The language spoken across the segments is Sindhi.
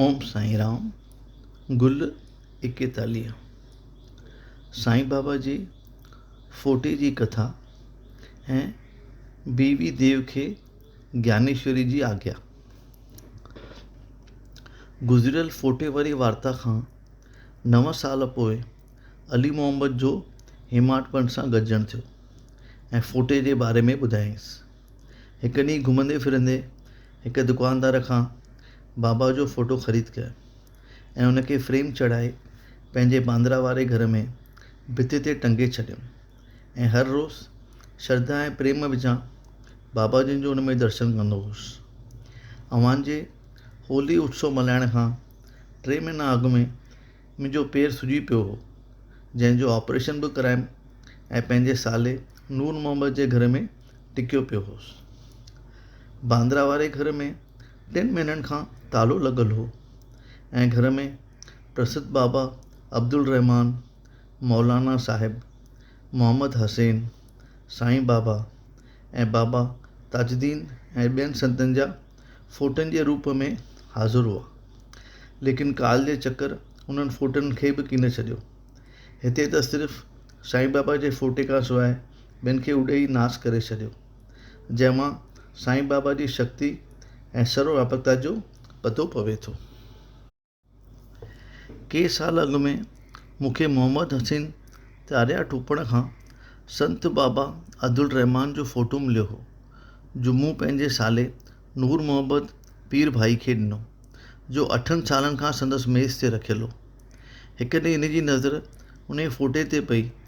اوم سائين رام گل ايڪيتاليهه سائين بابا جي ڦوٽي جي ڪٿا ۽ بيوي ديو کي گيانيشوري جي آگيا گذريل ڦوٽي واري وارتا کان نو سال پوء علي محمد جو هيماٽ پنت سان گڏجڻ ٿيو ۽ ڦوٽي جي باري ۾ ٻڌايائينس هڪ ڏينهن گهمندي ڦرندي هڪ دڪاندار کان بابا جو فوٽو خريد ڪيو ۽ ان کي فريم چڙهائي پنهنجي باندرا واري گهر ۾ ڀت تي ٽنگي ڇڏيم ۽ هر روز شرڌا ۽ پريم وچان بابا جن جو ان ۾ درشن ڪندو هوس اوهان جي هولي اتسو ملهائڻ کان ٽي مهينا اڳ ۾ منهنجو پير سجي پيو هو جنهن جو آپريشن به ڪرايم ۽ پنهنجي سالي نور محمد جي گهر ۾ ٽڪيو پيو هوس. باندرا واري گهر ۾ ٽن مهينن کان تالو لڳل هو ۽ گهر ۾ پرسڌ بابا عبدالرحمان، مولانا صاحب، محمد حسين، سائين بابا ۽ بابا تاج الدين ۽ ٻين سنتن جا ڦوٽن جي روپ ۾ حاضر هئا. ليڪن ڪال جي چڪر انهن ڦوٽن کي به ڪينه ڇڏيو. هتي ته صرف سائين بابا جي ڦوٽي کان سواء ٻين کي اڏي ئي ناس ڪري ڇڏيو، جنهن مان سائين بابا جي شڪتي ۽ سرو واپڪتا جو پتو پوي ٿو. ڪي سال اڳ ۾ مون کي محمد حسين تاريا ٽوپڙ کان سنت بابا عبدالرحمان جو فوٽو مليو هو، جو مون پنهنجي سالي نور محمد پير ڀائي کي ڏنو، جو اٺن سالن کان سندس ميز تي رکيل هو. هڪ ڏينهن هن جي نظر انهيء فوٽي تي پئي.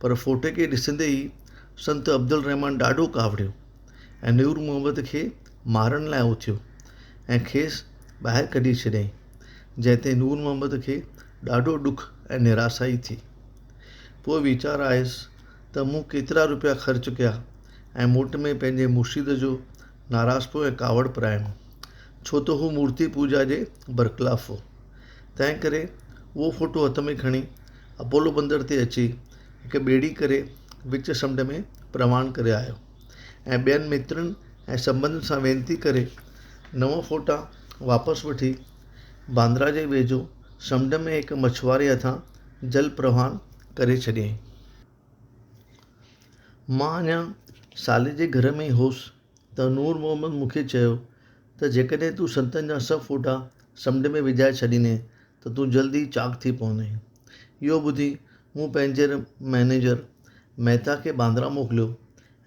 پر ڦوٽي کي ڏسندي ئي سنت عبدالرحمان ڏاڍو ڪاوڙيو ۽ نور محمد کي مارڻ لاء اٿيو ۽ کيس ٻاهر ڪڍي ڇڏيائين جنهن تي نور محمد کي ڏاڍو ڏک ۽ نراسائي ٿي پوء ويچار آيس ته مون ڪيترا روپيا خرچ ڪيا ۽ موٽ ۾ پنهنجي مرشد جو ناراسپو ۽ ڪاوڙ پرائڻو ڇو ته هو مورتي پوجا جي برخلاف هو تنهن ڪري اهو ڦوٽو هٿ ۾ کڻي اپولو بندر تي اچي هڪ ٻيڙي ڪري وچ سمنڊ ۾ پروان ڪري آيو ۽ ٻين مترن ۽ سنٻنڌين سان وينتي ڪري نو ڦوٽا واپس وٺي باندرا جي ويجهو سمنڊ ۾ هڪ مڇواري هٿان جل پروان ڪري ڇڏيائين. مان اڃا سالي جي گهر ۾ ئي هوس ته نور محمد مون کي چيو ته جيڪڏهن تون سنتن جا سڀ ڦوٽا سمنڊ ۾ وجهائي ڇڏيندين ته تون جلدي چاڪ ٿي پوندين. اهو ٻڌي مون پنهنجي مئنيجر مهتا کي باندرا موڪليو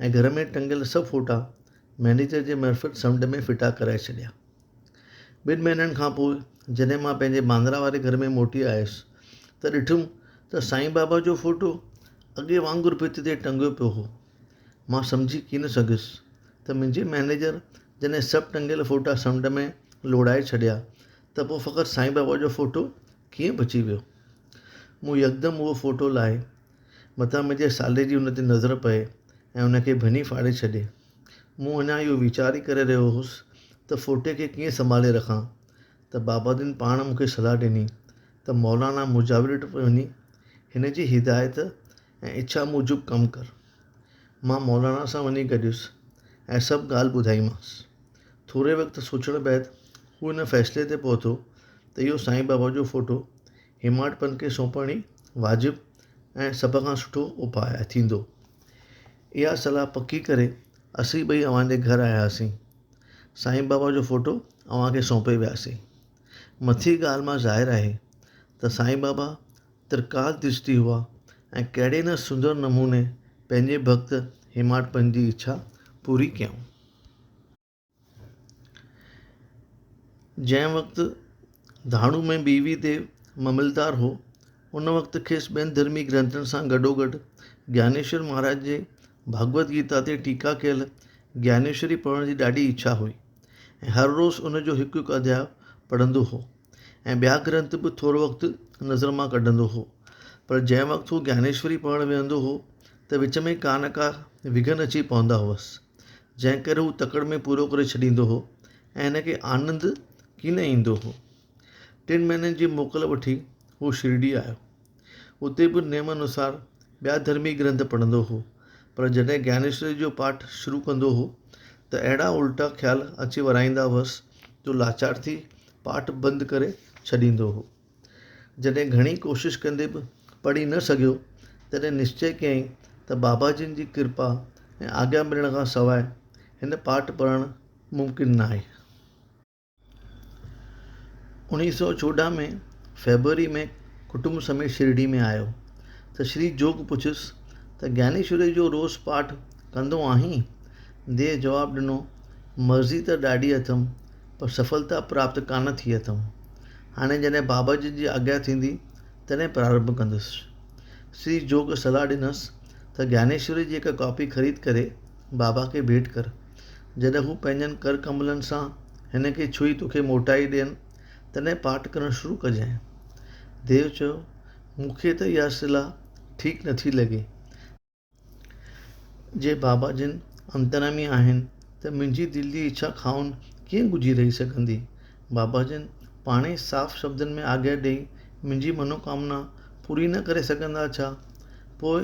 ۽ گهر ۾ ٽنگيل سڀ فوٽا مئنيجر جي معرفت سمنڊ ۾ ڦٽا ڪرائي ڇڏيا. ٻن مهينن کان پوء جڏهن مان پنهنجي باندرا واري گهر ۾ موٽي آيس ته ڏٺم ته سائين بابا جو فوٽو اڳي وانگر ڀت تي ٽنگيو پيو هو. مان سمجهي ڪين سگهيس ته منهنجي مئنيجر جڏهن سڀ ٽنگيل فوٽا سمنڊ ۾ لوڙهائي ڇڏيا ته پوء فقط سائين بابا جو فوٽو ڪيئن بچي ويو؟ مون يڪدم اهو فوٽو لاهي متان منهنجي سالي جي ان تي نظر پئي ۽ ان کي ڀڃي ڦاڙي ڇڏي. مون اڃا اهو ويچار ئي ڪري رهيو هوس ته فوٽي کي ڪيئن سنڀالي رکان ته بابادين پاڻ مون کي صلاح ڏني ته مولانا مجاور وٽ وڃي هن جي هدايت ۽ اڇا موجب ڪم ڪر. مان مولانا سان وڃي گڏيس ۽ سڀ ڳالهه ٻڌائيمانس. ٿوري وقت سوچڻ بعد هو ان فيصلي تي پهتو ته اهو سائين بابا جو فوٽو هيماڊ پنت کي سونپڻ ئي واجب ۽ سڀ کان سٺو اپاء ٿيندو. اها صلاح پڪي ڪري اسين ٻئي اوهان جي گهر آياسين. سائين بابا جو فوٽو اوهان کي سونپي وياسين. مٿين ڳالهه مان ظاهر آهي ته سائين بابا ترڪاس درشتي هئا ۽ ڪهڙي نه سندر نموني پنهنجي ڀڳت هيماڊ پنت جي اڇا پوري ڪيائون. جنهن وقت ڌاڻو ۾ بيوي تي مملدار هو، ان وقت کيس ٻين ڌرمي گرنٿن سان گڏوگڏ گيانيشور مهاراج جي ڀڳوت گيتا تي ٽيڪا ڪيل گيانيشوري پڙهڻ جي ڏاڍي اڇا هئي ۽ هر روز ان جو هڪ هڪ اڌياء پڙهندو هو ۽ ٻيا گرنٿ به ٿورو وقت نظر مان ڪڍندو هو پر جنهن وقت هو گيانيشوري پڙهڻ ويهندو هو ته وچ ۾ ڪا نه ڪا وگهن اچي پوندا هئس جنهن ڪري هو تڪڙ ۾ پورو ڪري ڇڏيندو هو ۽ هن کي آنند ڪي نه ايندو هو ٽن مهينن جي موڪل وٺي هو شرڊي آيو اتي به نيم انوسار ٻيا ڌرمي گرنٿ پڙهندو هو پر جڏهن گيانيشوري جو پاٺ شروع ڪندو هو ته اهڙا الٽا خيال اچي ورائيندا هئس جو لاچار ٿي پاٺ بند ڪري ڇڏيندو هو جڏهن گهڻي ڪوشش ڪندي به پڙهي نه سگهيو، تڏهن نشچي ڪيائين ته بابا جن جي ڪرپا ۽ آگيا ملڻ کان سواء هن پاٺ پڙهڻ ممڪن ناهي. اوڻيهه سؤ چوڏهن ۾ فيبروري ۾ ڪٽنب سميت شرڊي ۾ آيو ته شري جوڳ پڇيس ته گيانيشوري جو روز پاٺ ڪندو آهين؟ ديء جواب ڏنو، مرضي ته ڏاڍي اٿم، پر سڦلتا پراپت ڪانه ٿي اٿم. هاڻي جڏهن باباجي جي آگيا ٿيندي تڏهن پرارنڀ ڪندس. سري جوڳ صلاح ڏنس ته گيانيشوري جي هڪ ڪاپي خريد ڪري بابا کي ڀيٽ ڪر. جڏهن هو پنهنجن ڪر ڪملن سان هن کي ڇهي توکي موٽائي ڏين تڏهن پاٺ ڪرڻ شروع ڪجانء. ديو چيو، مون کي ته اها صلاح ٺيڪ نٿي لڳي. جي بابا جن انتريامي آهن ته منهنجي دل جي اڇا خائن ڪيئن ڳجهي رهي سگهندي؟ بابا جن پاڻ ئي صاف شبدن ۾ آگهه ڏيئي منهنجي منوڪامنا پوري نه ڪري سگهندا ڇا؟ پوء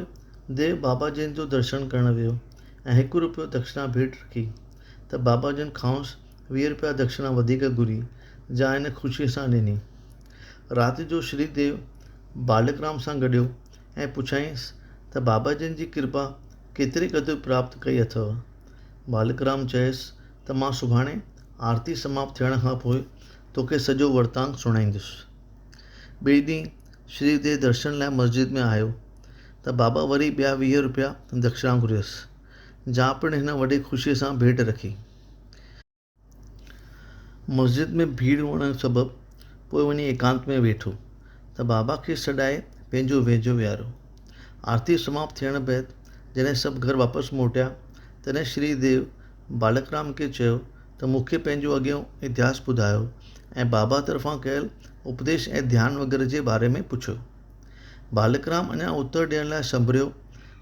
ديو بابا جن جو درشن ڪرڻ ويو ۽ هڪ روپيو دکشنا ڀيٽ رکي ته بابا جن کانئس ويهه روپيا دکشنا وڌيڪ گهري جا هن خوشيء سان ڏني. رات جو شري ديو بالڪرام سان گڏيو. ۽ پڇيائينس ته بابا جن جي ڪرپا ڪيتري قدر پراپت ڪئي اٿئو؟ ٻالڪرام چيس ته مان سڀاڻي آرتي سماپت ٿيڻ کان پوء توکي سڄو ورتانت سڻائيندس. ٻئي ڏينهن شري ديء درشن لاء مسجد ۾ آيو ته بابا وري ٻيا ويهه رپيا دکشڻا گهريس، جا پڻ هن وڏي خوشيء سان ڀيٽ رکي. مسجد ۾ ڀيڙ هئڻ سبب پوء وڃي ايڪانت ۾ ويٺو ته بابا کي سڏائي پنهنجو ويجهو ويهاريو. آرتي سماپت ٿيڻ بعد جڏهن سڀ گهر واپس موٽيا، تڏهن شري ديو ٻالڪ رام کي چيو ته مون کي پنهنجو اڳيون اتهاس ٻڌايو ۽ بابا طرفان ڪيل اپديش ۽ ڌيان وغيره جي باري ۾ پڇيو. ٻالڪ رام اڃا اتر ڏيڻ لاء سنڀريو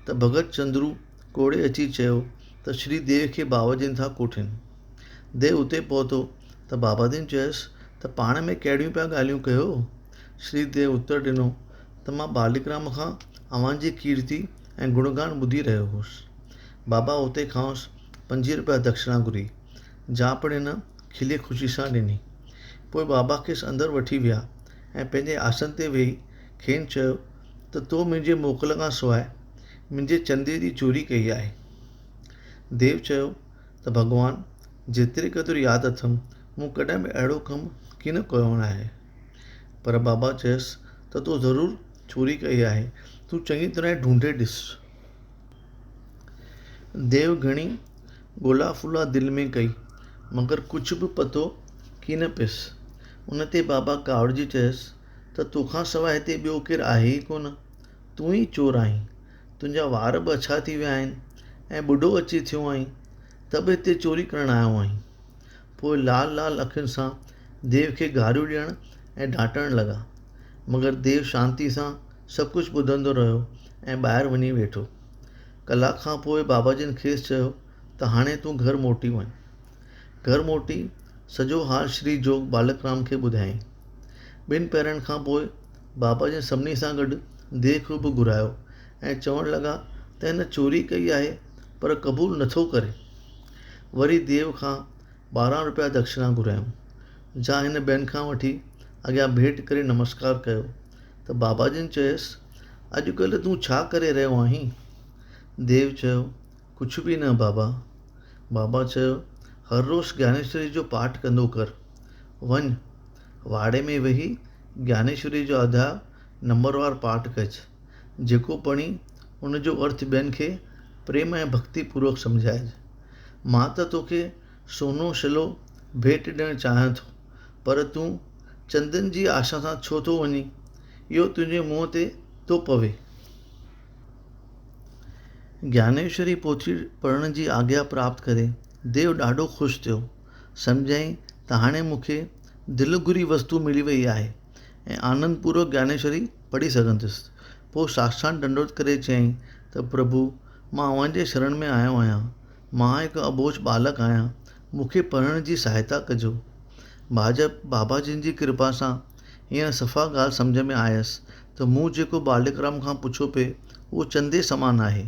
ته ڀڳت چندرو، ڪوڙي اچي چيو ته شري ديو کي باباجين ٿا ڪوٺين. ديو اتي پهتو ته باباجين چيس ته پاڻ ۾ ڪهڙيون پيا ڳالهيون ڪيو؟ شري ديو اتر ڏنو ته مان ٻالڪرام کان اوهان جي ڪيرتي ۽ گڻگان ٻڌي رهيو هوس. بابا اتي کانئس پنجويهه رپيا دکشنا گهري، جا پڻ هن کلي خوشي سان ڏني. پوء بابا کيس اندر وٺي ويا ۽ پنهنجي آسن تي ويهي کين چيو ته تو منهنجي موڪل کان سواء منهنجي چندي جي چوري ڪئي آهي. ديو چيو ته ڀڳوان جيتري قدر ياد اٿم مون ڪڏهن به اهڙو ڪم ڪي نه ڪيو آهي. پر بابا چيس ته تو ضرور چوري ڪئي آهي تون چڱي طرح ڍونڍي ڏس. ديو گهڻي ڳولا ڦولا دل ۾ ڪئي مگر ڪجهه به پتو ڪي نه پيس. ان تي بابا ڪاوڙجي چيس ته ته تو کان سواء هتي ٻيو ڪير آهي ئي ڪونه. تون ئي چور آهين. تنهنجا وار به اڇا ٿي ويا آهن ۽ ٻڍو اچي ٿيو آهين ته به هتي چوري ڪرڻ آيو آهين. پوء لال لال اکين سان ديو کي گاريون ڏيڻ ۽ ڊانٽڻ لڳا. مگر ديو شانتي سان سڀ ڪجهه ٻڌندو رهيو ۽ ٻاهر وڃي ويٺو. ڪلاڪ کان پوء باباجن کيس چيو ته هاڻي تون گهر موٽي وڃ. گهر موٽي سڄو حال شري جوڳ ٻالڪ رام کي ٻڌايائين. ٻن پهرن کان پوء بابا جن سڀني سان گڏ ديهه کي به گهرايو ۽ چوڻ لڳا ته هن چوري ڪئي آهي پر قبول نه ٿو ڪري. وري ديهه کان ٻارهن روپيا دڪشنا گهرايائون، جا هن ٻين کان وٺي اڳيان ڀيٽ ڪري نمسڪار ڪيو ته بابا جن چيس، اڄڪلهه تون ڇا ڪري رهيو آهين؟ ديهه چيو، ڪجهه به نه بابا. بابا چيو، هر روز گيانيشوري جو پاٺ ڪندو ڪر. وڃ، واڙي ۾ ويهي گيانيشوري جو اڌا نمبروار پاٺ ڪج. جيڪو پڙهين، ان جو ارٿ ٻين کي پريم ۽ ڀڳتي پوروڪ سمجهائج. مان ته توکي سونو شلو ڀيٽ ڏيڻ چاهيان ٿو، پر تون چندن جي آشا سان ڇو ٿو وڃين؟ اهو تنهنجي منهن تي ٿو پوي. گيانيشوري پوٿي پڙهڻ جي آگيا پراپت ڪري ديو ڏاڍو خوش ٿيو. سمجهيائين ته هاڻي مون کي دل گهري وستو ملي ويئي آهي ۽ آنند پورو گيانيشوري پڙهي سگهندس. پوء ساستان ڏنڊوت ڪري چيائين ته پرڀو مان اوهان جي شرڻ ۾ آيو آهيان. مان هڪ اٻوجهه ٻالڪ آهيان، مون کي پڙهڻ جي سهائتا ڪجو. ڀاڄپ بابا جن جي ڪرپا سان هينئر صفا ڳالهه سمجهه ۾ آيس ته مون جيڪو ٻالڪرام کان پڇيو پئي اهو چندي سمان آهي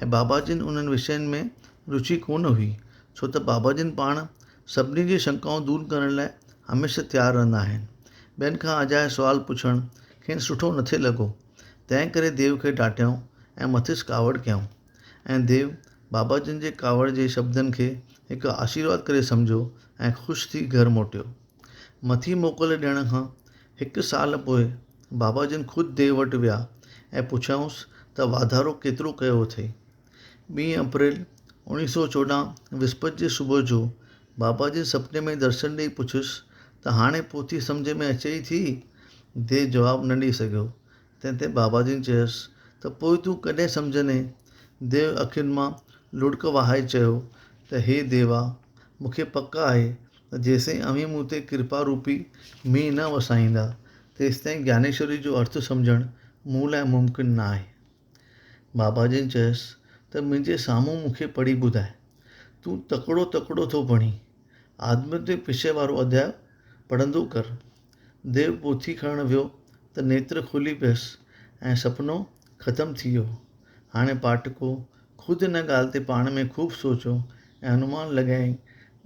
۽ بابا جن انهن وشين ۾ روچي ڪونه هئي ڇو ته بابا جن پاڻ سڀني جي شنڪائون دور ڪرڻ لاء هميشه تيار رهندا آهن. ٻين کان اجائي سوال پڇڻ کين سٺو نٿي لڳو تنهن ڪري ديو کي ڊاٽيائون ۽ مٿس ڪاوڙ ڪيائون ۽ ديو بابا جن جي ڪاوڙ جي شبدن کي هڪ آشيرواد ڪري سمجهيو ۽ خوش ٿي گهر موٽيو. مٿي موڪل ڏيڻ کان هڪ سال پوء بابا جن خود ديو وٽ ويا ۽ پڇيائونس ته واڌارو ڪيترو ڪيو اٿئي؟ ٻين اپريل اوڻيهه سؤ چوڏهن وسپت جي صبح جو بابا جن سپني ۾ درشن ڏيئي پڇيس ته هاڻي پوٿي سمجهه ۾ اچئي ٿي؟ ديو جواب نه ڏيئي سگهيو. تنهن تي بابا جن چيس ته پوء تون ڪڏهن سمجهندين؟ ديو اکين مان لڙڪ وهائي چيو ته هي ديوا! مون کي پڪ آهي ته جيستائين اوهين مون تي ڪرپا روپي مينهن نه وسائيندا، تيستائين گيانيشوري جو ارٿ سمجهڻ مون لاء ممڪن ناهي. بابا جن چيس ته منهنجي سامهون مون کي پڙهي ٻڌاء. تون تڪڙو تڪڙو ٿو بڻين. آدمين تي پڇي وارو اڌياء پڙهندو ڪر. ديو پوٿي کڻڻ ويو ته نيتر کلي پيس ۽ سپنو ختم ٿي ويو. هاڻي پاٽڪو خود ان ڳالهه تي پاڻ ۾ خوب سوچيو ۽ انومان لڳائي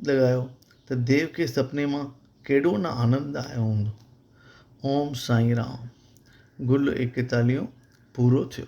لڳايو ته ديو کي سپني مان ڪيڏو نه آنند آيو هوندو. اوم سائين رام. گل ايڪيتاليهون پورو ٿيو.